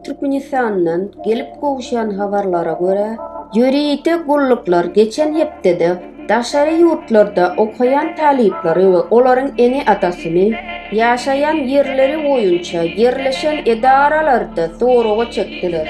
Türkmenistandan gelip gowuşan habarlara görä, ýörite gulluklar geçen hepdede daşary ýurtlarda okaýan talyplary we olaryň ene-atasyny ýaşaýan ýerleri boýunça ýerleşen edaralarda soraga çekdiler.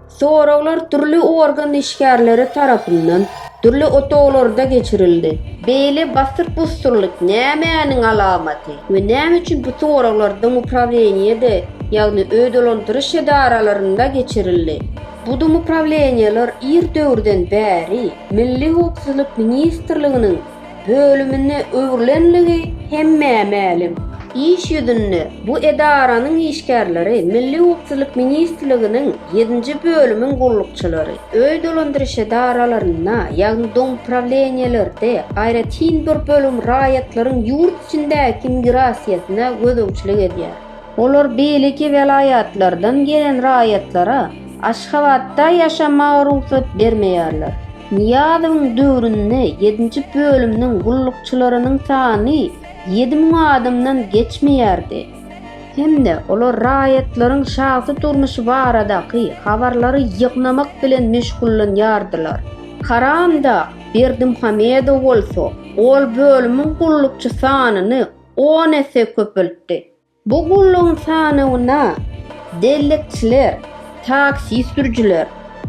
Soraglar dürli organ işgärleri tarapyndan dürli otaglarda geçirildi. Beýle basyr-busurlyk nämäniň alamaty we näme üçin bu soraglar domuprawleniýede, ýagny öýdolandyryş edaralarynda geçirildi? Bu domuprawleniýeler ir döwürden bäri Milli howpsuzlyk ministrliginiň, bölümine öwrülenligi hemmä mälim. Iş ýüzünde bu edaranyň işgärleri Milli howpsuzlyk ministrliginiň ýedinji bölümiň gullukçylary, öý dolandyryş edaralarynda, ýagny domuprawilenýelerde, aýratyn bir bölüm raýatlaryň ýurt içindäki migrasiýasyna gözegçilik edýär. Olar beýleki welaýatlardan gelen raýatlara Aşgabatda ýaşamaga rugsat bermeýärler. Nyýazowyň döwründe ýedinji bölüminiň gullukçylarynyň sany ýedi müň adamdan geçmeýärdi. Hem-de olar raýatlaryň şahsy durmuşy baradaky habarlary ýygnamak bilen meşgullanýardylar. Karamdag Berdimuhamedow bolsa ol bölümiň gullukçy sanyny on esse köpeltdi. Bu gullugyň sanawyna bellikçiler, taksi sürüjiler,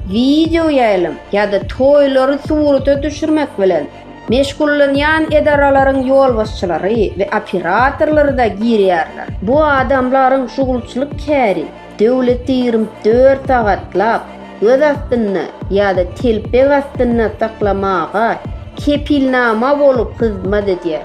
wideo ýaýlym ýa-da toýlary surata düşürmek bilen meşgullanýan edaralaryň ýolbaşçylary we operatorlary-da girýärler. Bu adamlaryň şugulçylyk käri döwleti ýigrimi dört sagatlap göz astynda ýa-da telpek astynda saklamaga kepilnama bolup hyzmat edýär.